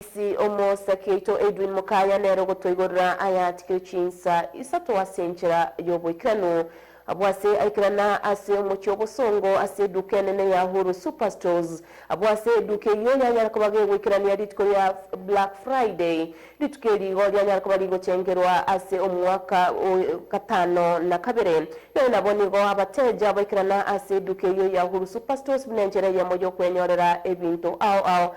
Ase omosake oito Edwin Mukaya nere ogotoigorera aya atigire chinsa isato ase enchera y'oboikeranu. Abwo ase aikerana ase omochie obosongo ase eduka enene ya Ahuru Super Stores. Abwo ase eduka eyio yanyara koba gegoikerania rituko ria Black Friday, rituko eri igo rianyara koba rigochengerwa ase omwaka o gatano na kabere. Naende nabo nigo abateja baikerana ase eduka eyio ya Ahuru Super Stores buna enchera eyemo y'okwenyorera ebinto ao ao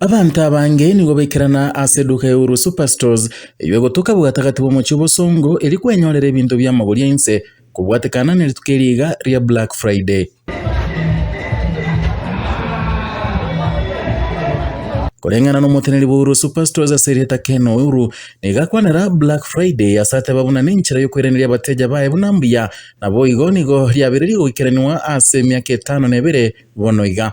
Abanto abange nigo baikerana ase eduka ya Uru Superstores eyio egotoka bwatagati bw'omochie o Bosongo eria kwenyorera ebinto bi'amagori 'ainse kobwatekana nerituko eri iga ria Black Friday. Koreng'ana nomoteneri bw'oboruoti Pastor's ase erieta Ken Ouru, nigo akwanera Black Friday ase ateba buna nenchera yokoiraneria abateja baye buna mbuya, naboigo nigo riabereiri goikeranigwa ase emiaka etano na ebere bono iga.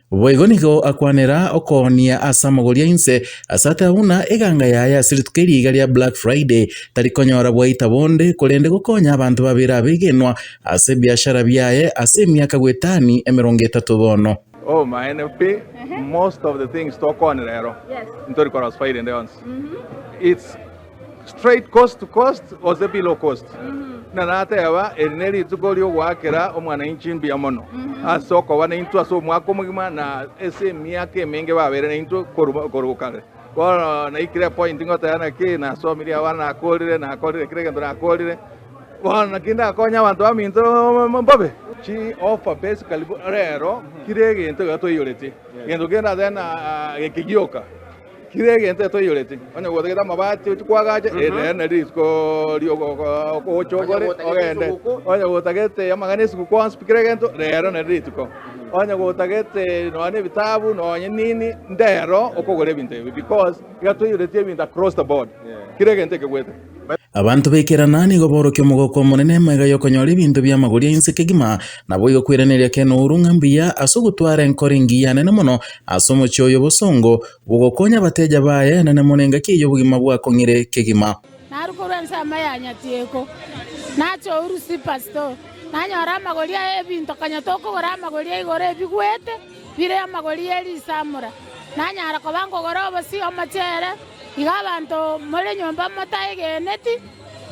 Boigo nigo akwanera okoonia ase amagori ainse, ase ateba buna eganga yaye ase rituko eria iga ria Black Friday tari konyora bwaita bonde korende gokonya abanto babere abegenwa ase ebiashara biaye ase emiaka goetani emerongo etato bono. Oh maene pi most of the things tokwanire ero ntori korwa spider ende yonsi it's straight coast to coast gose below coast, buna nateba eri nerituko riogoakera omwananchi mbuya mono ase okoba naintwe ase omwaka omogima na ase emiaka emenge babeire naintwe korwa korwa kare. Bono naikire point ngoteba naki nasomirie abana nakorire nakorire kera egento nakorire bono naki ndakonye abanto baminto mbobe chi offer basically rero kira egento iga toiyoreti egento kende ateba na ekegioka. Tiri egento etoiyoreti, onye gotagete amabati ochie koagacha, erio nere rituko ri'ogocha okore ogende. Onye gotagete amagena esiguku onsi pi kera egento, rero nere rituko. Onye gotagete nonya nebitabu nonya nini, ndero okogora ebinto ebi because iga toiyoreti ebinto across the board. Kera egento ekegwete. Abanto b'ekerana nigo borokia omogoko omonene emaiga y'okonyora ebinto bi'amagori ainse kegima, naboigo kwiraneria ken'ouru ng'a mbuya ase ogotwara enkoro engiya nene mono ase omochie oyo obosongo bogokonya abateja baye nene mono engaki eyio obogima bwakong'ire kegima. Naru korwa ensemo ya nyatieko nacha o Urusipasito, nanyora amagori aye ebinto kanyete okogora amagori aigoro ebigwete. Bire amagori ye risamura, nanyare koba nkogora obosio omochere, iga abanto more nyomba motaegeneti,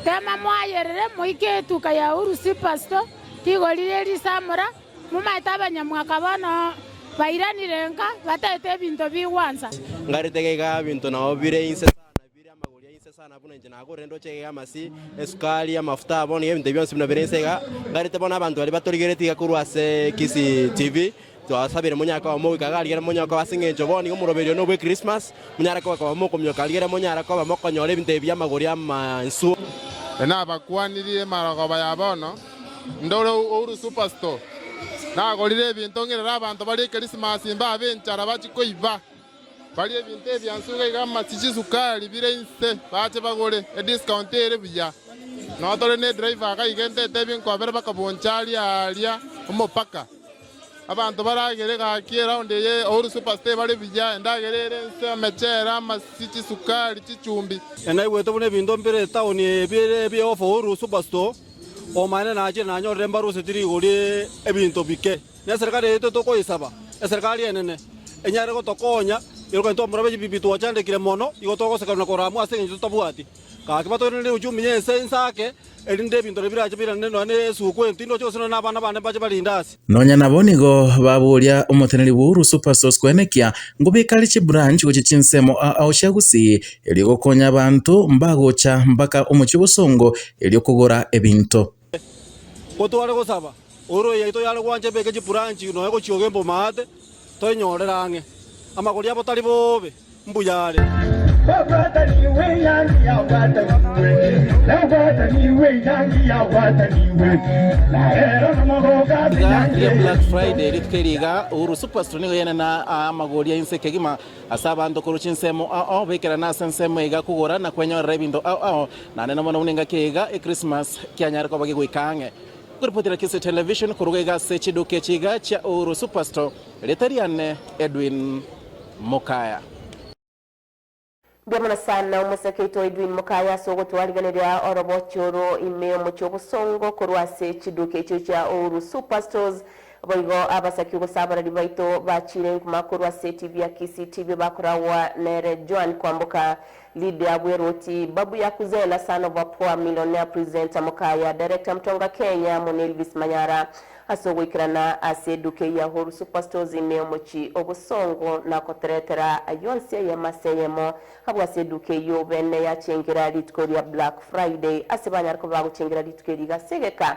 teema moayerere, moike etuka ya Urusi Pasto, rigori rie risamura, momaete abanyamwaka bono bairanire nka, bataete ebinto bigwansa. Ngarete geika binto nao bire inse sana bie. Bire amagori a inse sana buna inche nagorire endoche egega y'amasii, esukari, amafuta abo nigo ebinto ebi bionsi buna bire inse iga. Ngarete bono abanto baria batorigereti iga korwa ase Kisii TV, twasabire monyaka oyomo goika iga arigere monyaka oyo ase eng'encho bono nigo omoroberio one obwe Christmas, monyare koba koba mokomioka arigere monyare koba mokonyora ebinto ebi bi'amagori amansu. Nabakwanirie emarogoba ya bono, ndore Uhuru Superstore. Nagorire ebinto ng'irere abanto bare Ekirisimasi mbabe enchara bachie koiba. Baria ebinto ebiansu iga iga amachi chisukari bire inse bache bagore ediscount ere buya. Nonya tore ne driver iga iga entete ebinko babere bakabuncha aria aria omopaka. Abanto baragere gaki eround eye Uhuru Supers tebare buya endagera ere inse omechere amasi chisukari chichumbi. Enaigwete buna ebinto mbire etown eye bire ebie of Uhuru Superstore omaene nachire nanyorire mbaruseti rigori ebinto bike. Neserekari yaito tokoyesaba, eserekari enene, enyare gotokonya erogani twamoraba echibibi twachandekire mono, igo togoseka na korama ase engencho totabwati gaki batoirane neuchumi ya ense inse ake, erinde ebinto na ebiracha birane nonya ne esuku entindi oche gose nonya na abana bane mbache barinde ase. Nonya nabo nigo baboria omoteneri bw'ouru Supersource kwenekia ng'o bikare chibranch gochia chinsemo aa ocha Gusii erio gokonya abanto mbagocha mpaka omochie o Bosongo erio kogora ebinto. Ko tware gosaba, ororo yaito yare gwancha ebeke chiburanchi nonya gochioga emboma aate, toenyorere ang'e. Amagori abo tari boobe, mbuya are. Ase abanto korwa chinsemo ao ao bekerana ase ensemo iga kogora na kwenyorera ebinto ao ao, naende nomono buna engaki iga Ekrismas kianyare koba gegoika ang'e. Koripoti na Kisii Television koruga iga ase chiduka echi iga chia Uhuru Superstore, rieta riane Edwin Mukaya. Mbuya mono sana omoseke oito Edwin Mukaya ase ogotwarigeneria orobochi oro ime omochie obosongo korwa ase chiduka echio chia Uhuru Superstores. Boigo abasaki ogosaborari baito bachiire enkuma korwa ase etibi ya Kisii tibio bakoragwa nere Joan Kwamboka, Lydia Bweroti, Babu Yakuzena, Son of a Poor Millionaire Presenter Mukaya, Director Mutonga Kenya, amo na Elvis Manyara ase ogoikerana ase eduka eye ya Uhuru Superstores ime omochie o Bosongo na koteretera ayio onsi eyemo ase eyemo abwo ase eduka eyio obe neyachengera rituko ria Black Friday ase banyare koba bagochengera rituko eri gase egeka